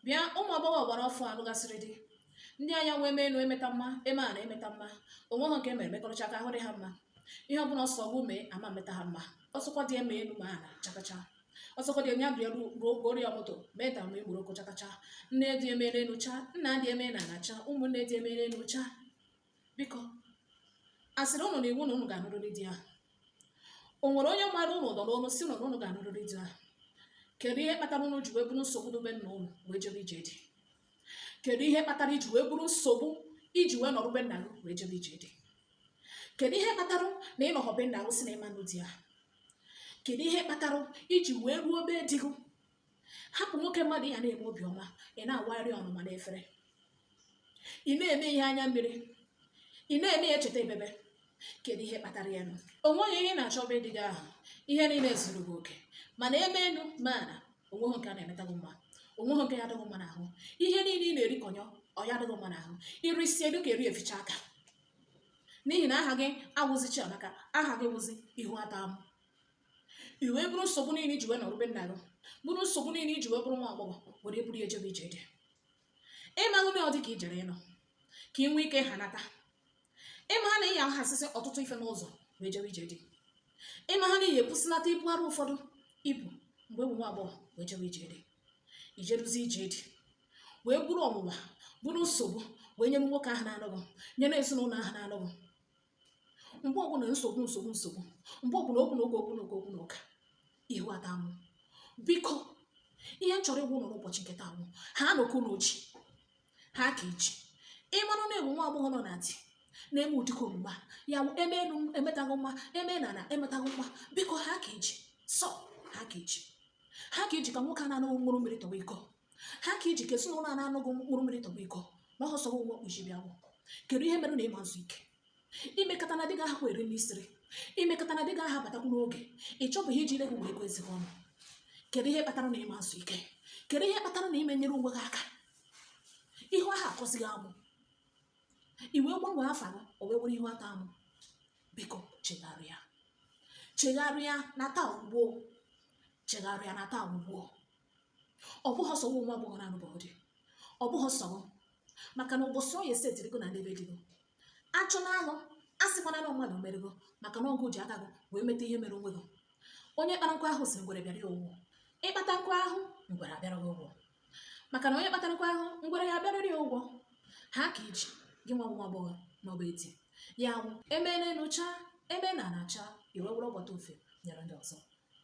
bịa ụmụ agbọghọ gbara ọfụ a lụgasịrị di ndị a ya wụ eme enu emeta mma eme ana emeta mma onweha nke emere mekọrọcha ka ahụ dị ha mma ihe ọbụla ọ sọ gụ mee ama meta ha mma ọ sọkwa di eme enu ma ana chakacha ọ sọkwa di anya bịa ruo goro ya moto mee ta mgbe igboro okochakacha nne di emee enu cha nna di emee n'ana cha ụmụnne di emee enu cha biko asịrị ụnụ na iwu na ụnụ ga-anụrịrị di ahụ o nwere onye mara ụnụ ụdọ n'onu sị ụnụ na ụnụ ga-anụrịrị di ahụ kedu ihe kpatara ụnụ ji wee buru nsogbu dị be nna ụnụ wee jebe ije di kedu ihe kpatara iji wee buru nsogbu iji wee nọrọ be nna gị wee jebe ije di kedu ihe kpatara na ịnọghọ be nna gị sị na ịma anụ di ahụ kedu ihe kpatara iji wee ruo be di gị hapụ nwoke mmadụ ya na-eme obiọma ị na-awagharị ọnụma n'efere ị na-eme ihe anya mmiri ị na-eme ya echeta ebebe kedu ihe kpatara ya nụ o nweghị ihe ị na-achọ be di gị ahụ ihe niile zuru gị oke mana eme enu ma ana onweghị nke a na-emeta gị mma onweghị nke ya adị gị mma n'ahụ ihe niile ị na-eri kọnyọ ọ ya adịghị mma n'ahụ irisi elu ka eri eficha aka n'ihi na aha gị awụzi chiamaka aha gị wụzi ihu atọ amụ i wee buru nsogbu niile iji wee nọrọ be nna gị buru nsogbu niile iji wee bụrụ nwa agbọghọ were buru ya jebe ije di ịmaghị na ọ dị ka i jere ịnọ ka ị nwee ike ha nata ịmaha na ịya ahasịsị ọtụtụ ife n'ụzọ wee jebe ije di ịmaha na ịya ebusinata ibu arụ ụfọdụ i bu mgbe ị bụ nwa agbọghọ wee jebe ije di ijeruzi ije di wee buru ọnwụnwa buru nsogbu wee nyere nwoke ahụ na-anụ gị nyere ezinụlọ ahụ na-anụ gị mgbe ọbụla nsogbu nsogbu nsogbu mgbe ọbụla okwu na ụka okwu na ụka okwu na ụka ihu atọ amụ biko ihe m chọrọ ịgwa ụnụ n'ụbọchị nke taa wụ hanụ ka ụnụ ji ha ka iji ịmara na ị wụ nwa agbọghọ nọ na di na-eme ụdịka omume a ya wụ eme elu emetaghị mma eme n'ana emetaghị mma biko ha ka iji sọ ha ka iji ha ka iji ka nwoke a na-anụ gị ṅụrụ mmiri tọwa iko ha ka iji ka ezinụlọ a na-anụ gị ṅụrụ mmiri tọgbọ iko na ọhọ sọrọ ụwa kpuchi bịa nwụọ kedu ihe mere na ịma ezu ike imekata na di gị ahụ eri nri isiri imekata na di gị ahụ abatakwu n'oge ị chọbụghị iji ile gị wee ego ezigbo ọnụ kedu ihe kpatara na ịma ezu ike kedu ihe kpatara na ịma enyere onwe gị aka ihu ahụ atọzighị amụ i wee gbanwee afa gị o wee wụrụ ihu atọ amụ biko chegharịa chegharịa na taa wụ gboo chegharịa na taa wụ gboo ọ bụghị sọ nwa agbọghọ na anụbọghọ di ọ bụghị sọ gị maka na ụbọchị onye setiri gị na n'ebe di gị achụnaa gị asịkwana na mmadụ mere gị maka na ọ gụ ji aka gị wee meta ihe mere onwe gị onye kpara nkụ ahụhụ sị ngwere bịara ya ụgwọ ịkpata nkụ ahụhụ ngwere abịara gị ụgwọ maka na onye kpatara nkụ ahụhụ ngwere ya abịarịrị ya ụgwọ ha ka iji gị nwa nwa agbọghọ nọ be di a ya wụ emee n'elu chaa eme n'ana chaa i wee were ọgbọta ofe nyere ndị ọzọ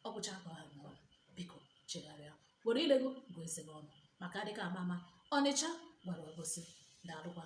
ọ gwụcha ka ọ ha m ọnụ biko chegharịa were ile gị gụọ eze gị ọnụ maka adịka ama ama ọnịcha gwara obosi na-alụkwa